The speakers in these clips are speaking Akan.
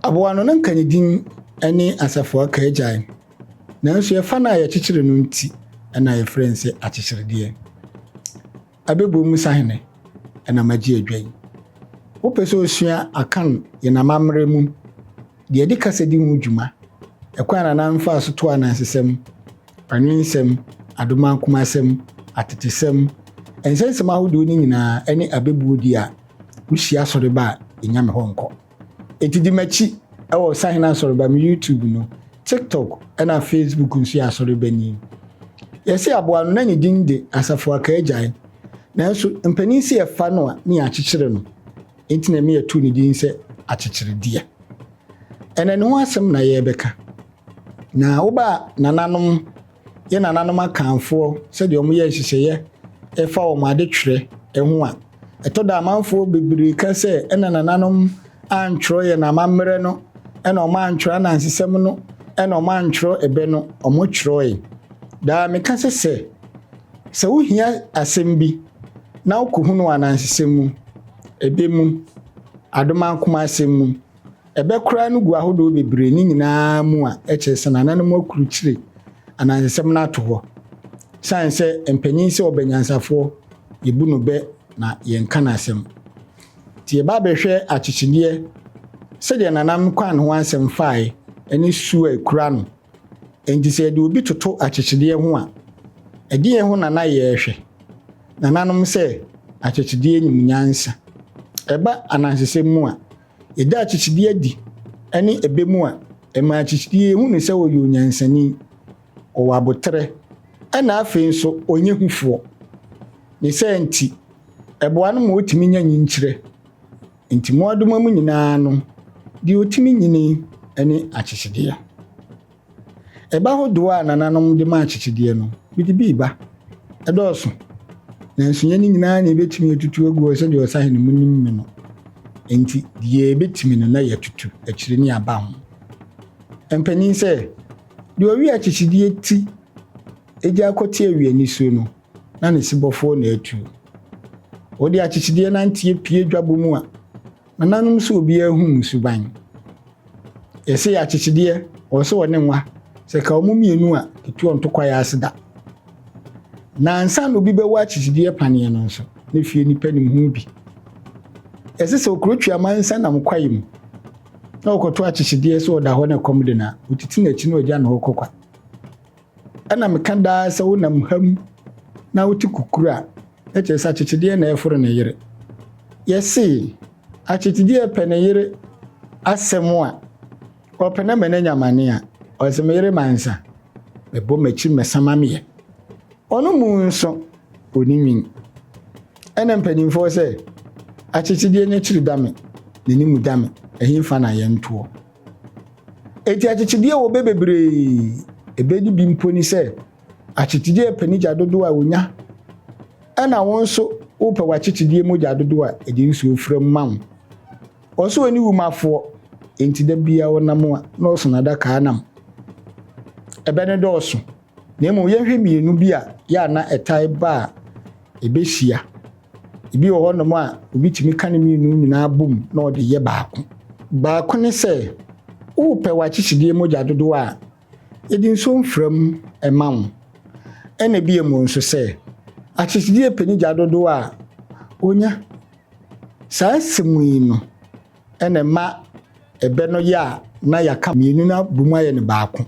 Aboa no, na nka ne din ne Asafo Akaagyae, nanso ɛfa no a yɛkyekyere no nti na yɛfrɛ no sɛ Akyekyeredeɛ. Abɛbuo mu sahene na magye adwa yi. Wopɛ sɛ osua Akan yɛn amammerɛ mu deɛ ɛde kasa di ho dwuma, ɛkwan a Nana mfaa so too anansesɛm, anwensɛm, adomakomasɛm, atetesɛm, nsɛnsɛm ahodoɔ no nyinaa ne abɛbuo di a, Wuhyia asɔre ba a, nnya me hɔ nkɔ. Enti di m'akyi wɔ Sahene Asɔreba, me YouTube no, TikTok na Facebook nso yɛ Asɔrebani. Yɛse aboa no na ne din de Asafo Akaagyae, nanso mpanin se yɛfa no a ne yɛakyekyere no, enti na ɛma yɛtoo ne din sɛ Akyekyeredeɛ. Ɛnnɛ ne ho asɛm na yɛrebɛka. Na wo ba nananom. Yɛn nananom Akanfoɔ, sɛdeɛ wɔyɛɛ nhyehyɛeɛ ɛfa wɔn adetwerɛ ho a, ɛtɔ da a amanfoɔ bebree ka sɛ ɛna nananom antwerɛ yɛn amammerɛ no, ɛna wɔn antwerɛ anansesɛm no, ɛna wɔn antwerɛ ɛbɛ no, wɔn twerɛɛe. Daa meka sɛ sɛ, sɛ wo hia asɛm bi na wo kɔhunu wɔ anansesɛm mu, ɛbɛ mu, Adom Ankomasɛm mu, Ɛbɛkora no gu ahodoɔ bebree no nyinaa mu a, ɛkyerɛ sɛ nananom akrukyire anansesɛm no ato hɔ. Ɛsiane sɛ mpanin sɛ ɔbɛ nyansafoɔ, yɛbu no bɛ na yɛnka no asɛm. Nti yɛba abɛhwɛ akyekyedeɛ sɛdeɛ nanam kwan ne ho asɛm faeɛ ɛne su a ɛkura no. Ɛnti sɛ yɛde obi toto akyekyedeɛ ho a, ɛdeɛn ho na na yɛrehwɛ? Nananom sɛ akyekyedeɛ nim nyansa. Ɛba anansesɛm mu a, Yɛda akyikyidie adi ne ɛbɛ mu a, ɛma akyikyidie yi hu no sɛ ɔyɛ onyansani, ɔwɔ aboterɛ, ɛna afei nso ɔnyɛ hufoɔ. Ne saa nti, ɛboa no ma ɔtumi nya nyinkyerɛ. Nti mmoadoma mu nyinaa no, deɛ ɔtumi nyini ne akyekyedeɛ. Ɛba hodoɔ a nananom de ma akyekyedeɛ no, mede bi reba. Ɛdɔɔso, nanso nyɛ ne nyinaa na yɛbɛtumi atutu agu hɔ sɛdeɛ ɔsahene monim me no. Enti deɛ yɛbɛtumi no na yɛatutu akyire ne aba ho. Mpanin sɛ, Deɛ ɔwe akyekyedeɛ ti gyaa kɔteɛ we anisuo no, na ne sebɔfoɔ na atuo. Wode akyekyedeɛ nanteɛ pue dwabɔ mu a, Nananom sɛ obiara hu mo suban. Yɛse akyekyedeɛ ɔwɔ sɛ ɔne nwa sɛ ka ɔmo mmienu a etuo nto kwaeɛ ase da. Na ansa na obi bɛwɔ akyekyedeɛ paneɛ no nso ne fie nipa nim ho bi. Yɛse sɛ okuro twe amansa nam kwaeɛ mu na ɔkɔto akyekyedeɛ sɛ ɔda hɔ na ɛkɔm de no a otiti n'akyi na ɔgya ne hɔ kɔ kwa. Ɛna meka daa sɛ wonam ha mu na wote kukuru a, na kyerɛ sɛ akyekyedeɛ na ɛreforo ne yere. Yɛse akyekyedeɛ pɛ ne yere asɛm a, ɔpɛ na ma no anya amane a, ɔse me yere mansa, mebɔ m'akyi mmɛsa ma meɛ. Ɔno mmu nso, ɔni nwin. Ɛna mpanimfoɔ sɛ akyekyedeɛ nya kyiri dame, n'anim dame, ɛhe fa na yɛntoɔ? Enti akyekyedeɛ a wɔbɛ bebree ɛbɛ no bi mpo ne sɛ akyekyedeɛ ɛpɛ ne gya dodoɔ a ɔnya ɛna wo nso wopɛ w'akyekyedeɛ mu gya dodoɔ a ɛde nsuo fra mu ma wo. Ɔso wɔ ne wum afoɔ enti da biara ɔnam a na ɔso n'adakaa nam. Ɛbɛ no dɔɔso. Na mmom yɛnhwɛ mmienu bi a yɛ a na ɛtae ba a ɛbɛhyia. Ebi wɔ hɔnom a obi tumi ka ne mmienu nyinaa bom na ɔde yɛ baako. Baako ne sɛ wopɛ w'akyekyedeɛ mogya dodoɔ a, yɛde nsuo mfra mu ma wo. Ɛna bio mu nso sɛ akyekyedeɛ pɛ ne gya dodoɔ a, ɔnya. Saa nsɛm yi no. na ɛma ɛbɛ no yɛ a na yɛaka mmienu no abom ayɛ no baako.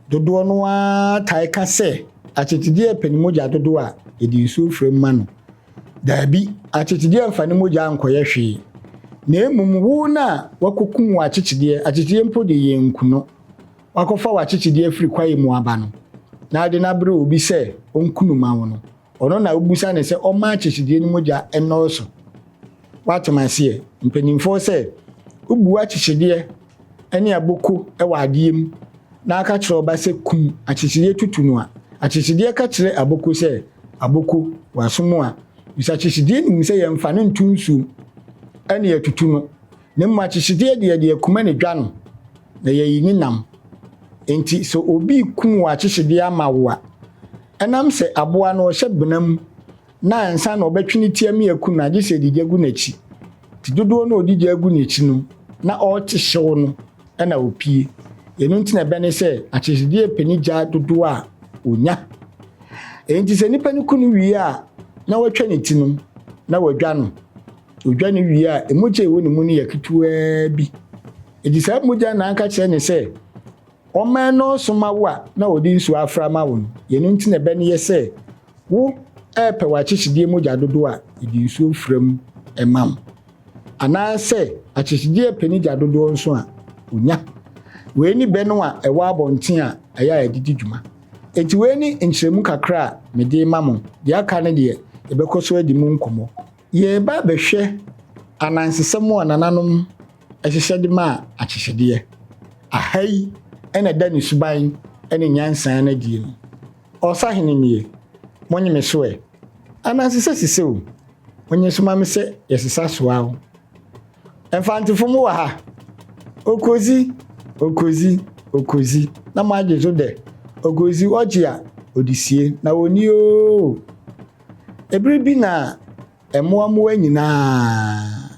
Dodoɔ no ara tae ka sɛ akyekyedeɛ pɛ ne mogya dodoɔ a yɛde nsuo fra mu ma no. Daabi, akyekyedeɛ mfa ne mogya nkɔyɛ hwee, na mmom wo no a wakɔkum w'akyekyedeɛ, akyekyedeɛ mpo de yɛnku no, wakɔfa w'akyekyedeɛ afiri kwaeɛ mu aba no, na wode no abrɛ obi sɛ ɔnku no ma wo no, Ɔno na wobisa no sɛ ɔmma akyekyedeɛ no mogya nnɔɔso. Woatem aseɛ? Mpanimfoɔ sɛ, Wobu akyekyedeɛ ne aboko wɔ adeɛ mu na woka kyerɛ wo ba sɛ kum akyekyedeɛ tutu no a, akyekyedeɛ ka kyerɛ aboko sɛ, Aboko, w'aso mu a, bisa akyekyedeɛ no mu sɛ yɛmfa no nto nsuom ne yɛatutu no. Ne mu akyekyedeɛ deɛ yɛde akuma ne dwa no na yɛyi ne nam. Enti sɛ obi rekum wɔ akyekyedeɛ ama wo a, ɛnam sɛ aboa no ɔhyɛ bena mu na ansa na ɔbɛtwe ne ti ami aku no a, gye sɛ ɛde gya gu n'akyi. Nti dodoɔ no a ɔde gya gu n'akyi no na ɔrete hyew no na ɔpie. Ɛno nti na ɛbɛ ne sɛ akyekyedeɛ pɛ ne gya dodoɔ a ɔnya. Enti sɛ nipa no ku no wie a na watwa ne ti no na wadwa no. Odwa no wie a, mogya a ɛwɔ ne mu no yɛ ketewaa bi. Enti saa mogya na anka kyerɛ ne sɛ ɔma ɛnɔɔso ma wo a na ɔde nsuo afra ma wo no. Yɛno nti na ɛbɛ no yɛ sɛ wo repɛ w'akyekyedeɛ mogya dodoɔ a, yɛde nsuo fra mu ma wo. Anaasɛ akyekyedeɛ repɛ ne gya dodoɔ nso a, ɔnya. Wei ne bɛ no a ɛwɔ abɔnten a ɛyɛ a yɛde di dwuma. Enti wei ne nkyerɛmu kakra a mede rema mo. Deɛ aka no deɛ, yɛbɛkɔ so adi mu nkɔmmɔ. Yɛreba abɛhwɛ anansesɛm a nananom hyehyɛ de maa akyekyedeɛ. Aha yi na ɛda ne suban ne nyansa no adie no. Ɔsahene nie, monye me so ɛ. Anansesɛ sesɛ o, monye so ma me sɛ yɛsesa so a o. Mfantefo mo wɔ ha? Okozi, okozi, okozi na moagye so dɛ, okozi ɔgye a ɔde sie na ɔnni oo. Bere bi na mmoammoa nyinaa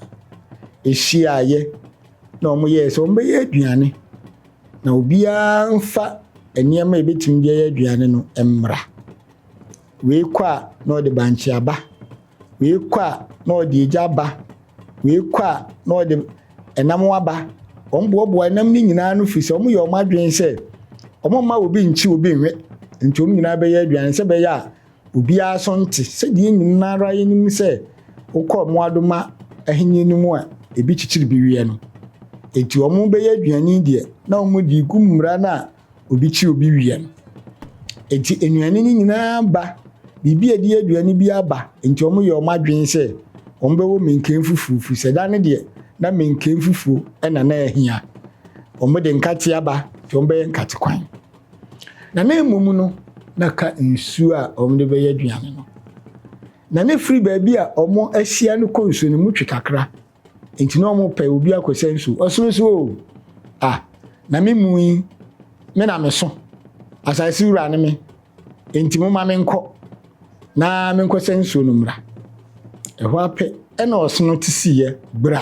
hyiaeɛ na wɔyɛɛ sɛ wɔbɛyɛ aduane, na obiara mfa nneɛma a ɛbɛtumi de ayɛ aduane no mmra. Wei kɔ a na ɔde bankye aba, wei kɔ a na ɔde egya aba, wei kɔ a na ɔde ɛnam aba. Wɔboaboa ɛnam no nyinaa no firi sɛ wɔyɛ wɔn adwene sɛ wɔmma obi nkye obi nwe, nti wɔn nyinaa bɛyɛ aduane sɛ ɛbɛyɛ a Obiara so nte sɛ deɛ yɛn nyinara yɛnim sɛ wokɔ mmoadoma ahennie no mu a ebi kyekyere bi weɛ no. Enti wɔn bɛyɛ aduane deɛ na wɔn de regu mmura no a obi kye obi weɛ no. Enti nnuane no nyinaa ba, biribi a ɛde yɛ aduane bi aba, enti wɔn yɛ wɔn adwene sɛ wɔn bɛwɔ menken fufuo firi sɛ da no deɛ na menken fufuo na na ɛhia. Wɔn de nkate aba nti wɔn bɛyɛ nkate kwan. na ne mmom no na ka nsuo a wɔde bɛyɛ aduane no. Na ne firi baabi a wɔahyia no kɔ nsuo no mu twe kakra, nti na wɔpɛ obi akɔsɛ nsuo. Ɔsono so o, a, na me mu yi, me na meso, asase wura ne me, nti moma menkɔ na menkɔsɛ nsuo no mmra. Ɛhɔ apɛ ɛna ɔsono te siiɛ bra.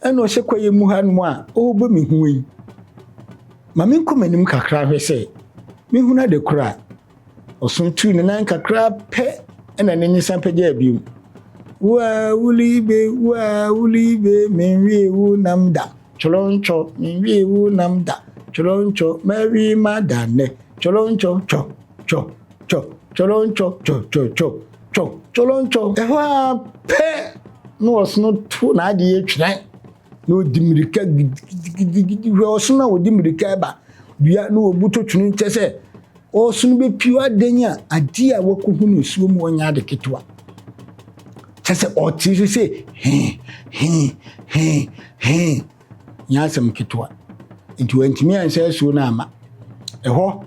Ɛna ɔhyɛ kwaeɛ mu ha nom a ɔrebɔ me ho yi. Ma menkɔ m'anim kakra hwɛ sɛ mehunu ade korɔ a. Ɔso tuu ne nan kakra pɛ ɛna n'ani san pagyaa biom. Woaa wulibe, woaa wulibe, menwie wo nam da, twolontwɔ, menwie wo nam da, twolontwɔ, mɛwe m'ada nnɛ, twolontwɔ, twɔ, twɔ. Twɔ, twɔlɔntwɔ, twɔ, twɔ, twɔ, twɔ, twɔlɔntwɔ. Ɛhɔ ara pɛ na ɔsono to n'adeɛ twerɛ na ɔdi mmirika gidigidigidi. Hwɛ ɔsono a ɔdi mmirika ɛba dua na ɔbuto twene kyɛ sɛ ɔsono bɛpio adɛn a adeɛ a wakɔhu no nsuo mu ɔnyɛ ade ketewa kyɛ sɛ ɔte so sɛ hee hee hee hee. Nyɛ asɛm ketewa nti wantumi anhyɛ asuo no amma. Ɛhɔ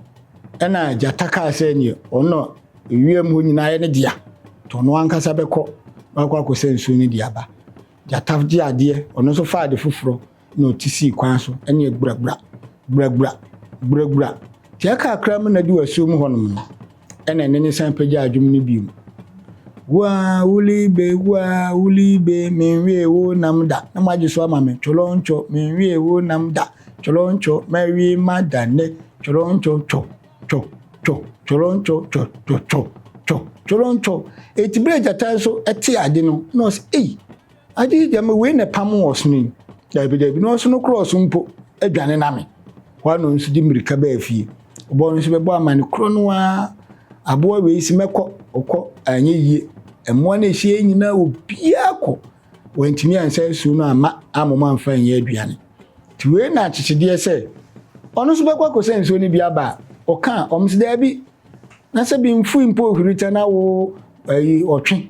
na gyata kaa sɛ neɛ ɔno na ewiem hɔ nyinaa yɛ ne dea nti ɔno ankasa bɛkɔ na wakɔ akɔsɛ nsuo no de aba. Gyata gye adeɛ, ɔno nso faa ade foforɔ na ɔte sii kwan so ɛne gburagbura, gburagbura, gburagbura, Gyɛ kakra mu na du asuom hɔnom no, ɛna ɛnne no san pagyaa dwom no bio. Wua, wulibe, wua, wulibe, menwie wo nam da, na moagye so ama me, tworoncho, menwie wo nam da, tworoncho, mawie ma da ne, tworoncho, two, two, two, tworoncho, two, two, two, two, tworoncho. Eti berɛ gyata nso te ade no, na ɔsɛ, ei, Agye gyama wei na ɛpam wɔn ɔsono yi? Daabi, daabi, na ɔsono korɔ so mpo dwane name. Hɔ ara na ɔnso de mmirika baa fie. Ɔba hɔ nso bɛbɔ amane korɔ no ara, aboa wei se mɛkɔ, ɔkɔ, anyɛ yie. Mmoa no a ɛhyia yi nyinaa obiara kɔ, wantumi ansa nsuo no amma ammom amfa anyɛ aduane. Nti wei na akyekyedeɛ sɛ ɔno nso bɛkɔ akɔsa nsuo no bi aba a, ɔka a, wɔn se daabi, na sɛ bi mfui mpo ohwirita na wo, ayi, ɔtwe.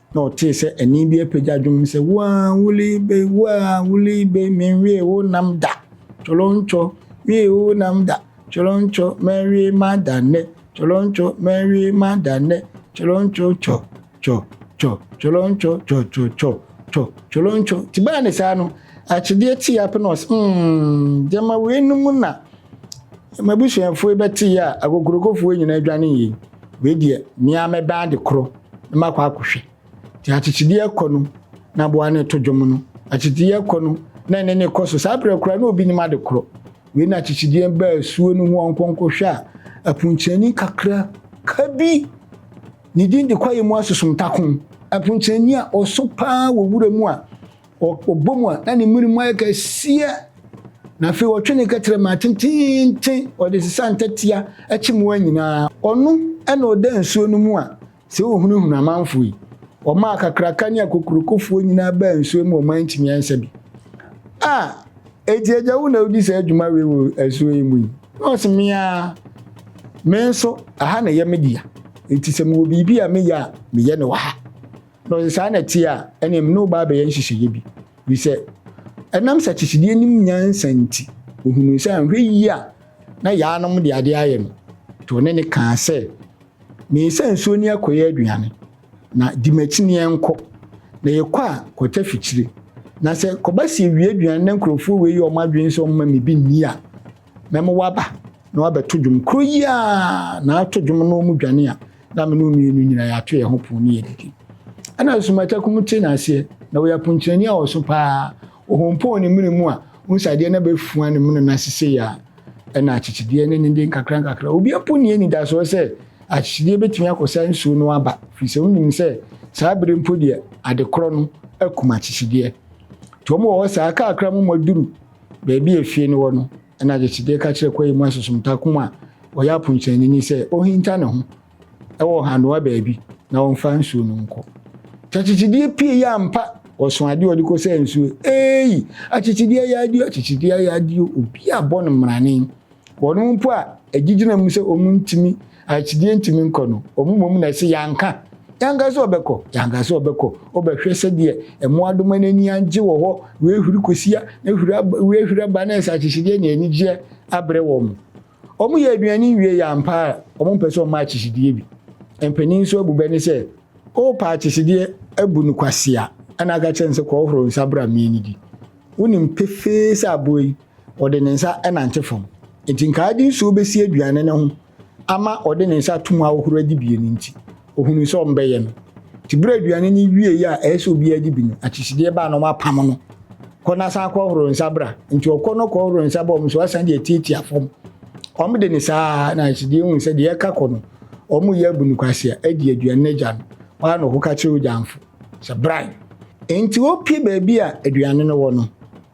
Na ɔtee sɛ ɛnne bi apagya dwom sɛ, Wo a wulii be, wo a wulii be, menwiee wo nam da, Colontwo, wiee wo nam da, Colontwo, mawie m'ada nnɛ, Colontwo, mawie m'ada nnɛ, Colontwo, cɔ, cɔ, cɔ, Colontwo, cɔ, cɔ, cɔ, cɔ, Colontwo. Nti baa ne saa no, akyedeɛ tee ape na ɔse, mm, gyama weinom na m'abusuafoɔ yi bɛteeɛ a, akokurokofoɔ nyinaa dwanee yei. wei deɛ me ara mɛbɛn ade korɔ na makɔ akɔhwɛ nti akyekyedeɛ kɔ no na aboa no to dwom no akyekyedeɛ kɔ no na ɛne ne kɔ so saa berɛ koraa na obi nim ade korɔ wei na akyekyedeɛ baa asuo no ho ɔnkɔnkɔhwɛ a apunkyani kakra ka bi ne din de kwaeɛ mu asosom tako apunkyani a ɔso paa wɔ wura mu a Ɔbɔ mu a, na ne mmere mu ayɛ kɛseɛ, na afei ɔtwe ne kɛtrɛ maa tenteenten, ɔde sesa ntɛtea kye mmoa nyinaa. Ɔno na ɔda nsuo no mu a, sɛ ɔhunahuna amanfoɔ yi. Ɔmaa akakraka ne akokurokofoɔ nyinaa baa nsuo mu a ɔman ntumi ansa bi. A, enti agya wo na wodi saa dwuma wei wɔ asuo yi mu yi? Na ɔse, Me ara, me nso, ɛha na ɛyɛ me dea, enti sɛ mewɔ biribi a meyɛ a, meyɛ no wɔ ha. No, sɛ saa na ɛte a, ɛnneɛ me ne wo ba abɛyɛ nhyehyɛeɛ bi, ɛfiri sɛ ɛnam sakyikyidie nim nyansa nti, ɔhunuu sɛ anhwɛ yie a na Yaanom de adeɛ ayɛ no, nti ɔne no kaa sɛ, Meesa nsuo ni akɔyɛ aduane, na di m'akyi na yɛnkɔ, na yɛkɔ a, kɔtɛ fikyire, na sɛ kɔba sɛ yɛwie aduane na nkurɔfoɔ wei yɛ wɔn adwene sɛ wɔmma me bi nni a, mɛma wɔaba na wɔabɛto dwom, korɔ yi ara na ato dwom na wɔdwane a, na me ne wo mmienu nyinaa yɛato yɛn ho pon ne yɛdidi. Ɛna Nsumaita Kum te n'aseɛ, na ɔyɛ aponkyerɛni a ɔso paa. Ɔhompɔɔ ne mene mu a, wohu sɛ adeɛ no abɛfua ne mene no ase sei a, ɛna akyekyedeɛ ne ne de nkakra nkakra. Obi mpo nni anidasoɔ sɛ akyekyedeɛ bɛtumi akɔsa nsuo no aba, firi sɛ wonim sɛ saa bere mpo deɛ adekorɔ no akum akyekyedeɛ. Nti wɔn wɔ hɔ saa, kakra mo mɔduru baabi a efie no wɔ no, Ɛnna Yesigye ka kyerɛɛ kwae mu asosomtakõ a ɔyɛ aponkyɛnni no sɛ onhinta ne ho wɔ hanoa baabi na ɔmfa nsuo no nkɔ. Takyekyedeɛ pie yɛ ampa! Ɔso adeɛ a ɔde kɔsaa nsuo, eei! Akyekyedeɛ yɛ adeɛ o, akyekyedeɛ yɛ adeɛ o, obi abɔ no mmrane. Wɔnom mpo a agyigyina mu sɛ wɔntumi Akyinnye nti menkɔ no. Wɔn mmom na ɛse yɛanka. Yɛanka sɛ ɔbɛkɔ. Yɛanka sɛ ɔbɛkɔ. Wobɛhwɛ sɛdeɛ mmoadoma no ani agye wɔ hɔ, wɔahuri kosua, na huri aba, wɔahuri aba, na nsakyehyedeɛ ne anigyeɛ abrɛ wɔn. Wɔyɛ aduane nwiei ampa ara, wɔmpɛ sɛ wɔma akyehyedeɛ bi. Mpanin nso abu bɛ no sɛ, Wopɛ akyehyedeɛ abu no kwasea, ɛna aka kyerɛ no sɛ, Kɔhohoro wo nsa bra mmɛnnidi. Wonim pefee sɛ aboa yi. ɔde ne nsa nante fam. Enti nka ade nsuo bɛsi aduane no ho ama ɔde ne nsa atom ahohoro adi bie no nti, ɔhunuu sɛ ɔmbɛyɛ no. Nti berɛ a aduane no wieeɛ a ɛyɛ sɛ obiara adi bi no, akyisideɛ baa na wɔapamo no. Kɔ na san kɔhohoro nsa bra. Nti ɔkɔ na ɔkɔhohoro nsa ba wɔn nso asan de atiatia fam. Wɔde no saa ara na akyisideɛ hunu sɛ deɛ ɛka kɔ no, wɔreyɛ abu no kwasea adi aduane no agya no. Hɔ ara na ɔkɔka kyerɛ ogyamfo sɛ, Bran! Enti ɔpue baabi a aduane no wɔ no.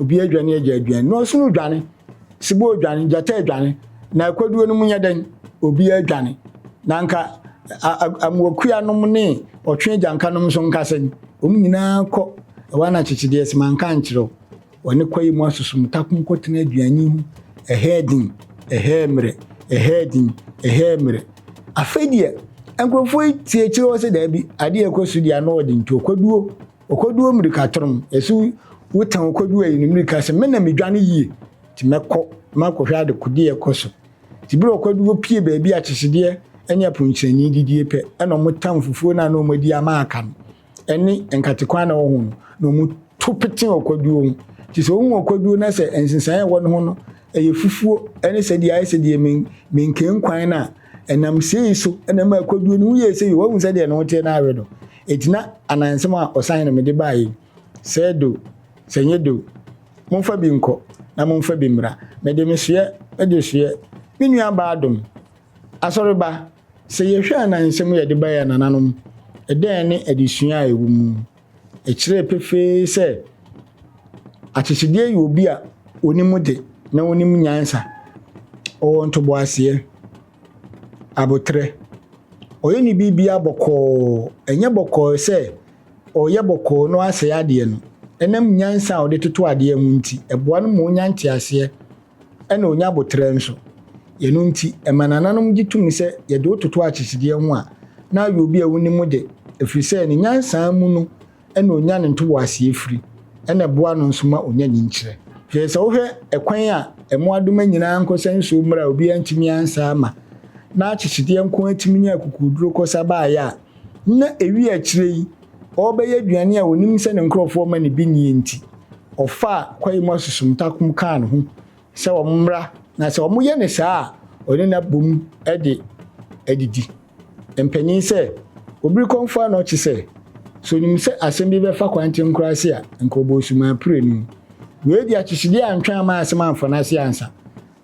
Obi adwane agya aduane na ɔsono dwane, sebɔ adwane, gyata adwane, na akwaduo no mu nyɛ dɛn? Obi adwane. Na nka amoakua nom ne ɔtwe agyanka nom nso nka sɛn? Wɔn nyinaa kɔ ɛwɔ ana kyekyedeɛ sɛ manka ankyerɛ wo? Wɔne kwaeɛ mu asosom takom kɔtena aduane ho ɛhɛɛ din, ɛhɛɛ mmerɛ, ɛhɛɛ din, ɛhɛɛ mmerɛ. Afei deɛ nkurɔfoɔ yi tie kyerɛ hɔ sɛ daabi, adeɛ ɛkɔ so deɛ ano ɔden nti ɔkwaduo Ɔkɔdu o mmirika trom, yɛse wo tan ɔkɔdu ayi no mmirika se me na me dwane yie nti mɛkɔ makɔhwɛ adekodeɛ ɛkɔ so nti bere ɔkɔdu hɔ pie baabi a kyesedeɛ ɛne aponkyerɛni didie pɛ ɛna ɔmo tan fufuo no a na ɔmo adi ama aka no ɛne nkatekwan na ɔho no na ɔmo to pete ɔkɔduo ho nti sɛ ɔhu ɔkɔduo na sɛ nsensan ɛwɔ no ho no ɛyɛ fufuo ɛne sɛdeɛ ayɛ sɛdeɛ men menkenkwan no a Ɛnam sei so na ɛmaa Koduo ne ho yɛɛ sei o, woahu sɛdeɛ ne ho teɛ na awe no, enti na anansɛm a ɔsan na mede baeɛ yi, Sɛ ɛdɛ o, sɛ ɛnyɛ dɛ o, momfa bi nkɔ na momfa bi mmra, mede me soɛ, mede soɛ, me nuabaa Adom, Asɔreba, sɛ yɛhwɛ anansɛm a yɛde baeɛ a nananom, ɛdɛn ne adesua a ɛwɔ mu? Ɛkyerɛɛ pefee sɛ akyekyedeɛ yɛ obi a ɔnim de na ɔnim nyansa, ɔwɔ ntoboaseɛ, aboterɛ, ɔyɛ ne biribiara bɔkɔɔ, ɛnyɛ bɔkɔɔ sɛ ɔreyɛ bɔkɔɔ na wasɛe adeɛ no, ɛnam nyansa a ɔde toto adeɛ ho nti, ɛboa no ma ɔnya nteaseɛ. Ɛna ɔnya aboterɛ nso. Yɛno nti, ɛma nananom gye to mu sɛ yɛde wo toto akyekyedeɛ ho a, na ayɛ obi a wonim wo de, ɛfiri sɛ ne nyansaa mu no ɛna ɔnya ne ntoboaseɛ firi, ɛna ɛboa no nso ma ɔnya nyinkyerɛ. Hwɛ, sɛ wohwɛ ɛkwan a mmoadoma nyinaa nkɔ sɛ nsuo mmra a obiara ntumi ansa ama, na akyekyedeɛ nko ara tumi nya akukuoduro kɔ sa baeɛ a, na ɛwie akyire yi, ɔrebɛyɛ aduane a onim sɛ ne nkurɔfoɔ mma no bi nnie nti, ɔfaa kwae mu asusumtakom kaa ne ho sɛ wɔmmra na sɛ wɔyɛ no saa a, ɔne no abom de adidi. Mpanin sɛ, Obirikɔmfoɔ a na ɔte sɛ, sɛ onim sɛ asɛm bi bɛfa kwankyɛn koraa ase a, anka ɔbɔɔ sumaa pire no. Wei de, akyekyede antwɛn amma asɛm amfa n'ase ansa.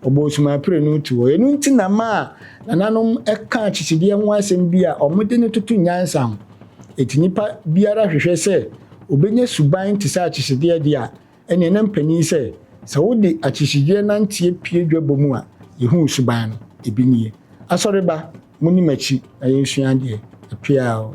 Wɔbɔɔ osumaapire no tu hɔ. Ɛno nti na maa nananom ka akyisidie ho asɛm bi a wɔde no toto nyansa ho. Enti nipa biara hwehwɛ sɛ ɔbɛnya suban te sɛ akyisideɛ deɛ a, ɛneɛ na mpanin sɛ, sɛ wode akyisideɛ nanteɛ pue dwabɔ mu a, yɛhu wo suban no. Ɛbi nie. Asɔreba, moni m'akyi na yɛnsua adeɛ. Ɛpea o.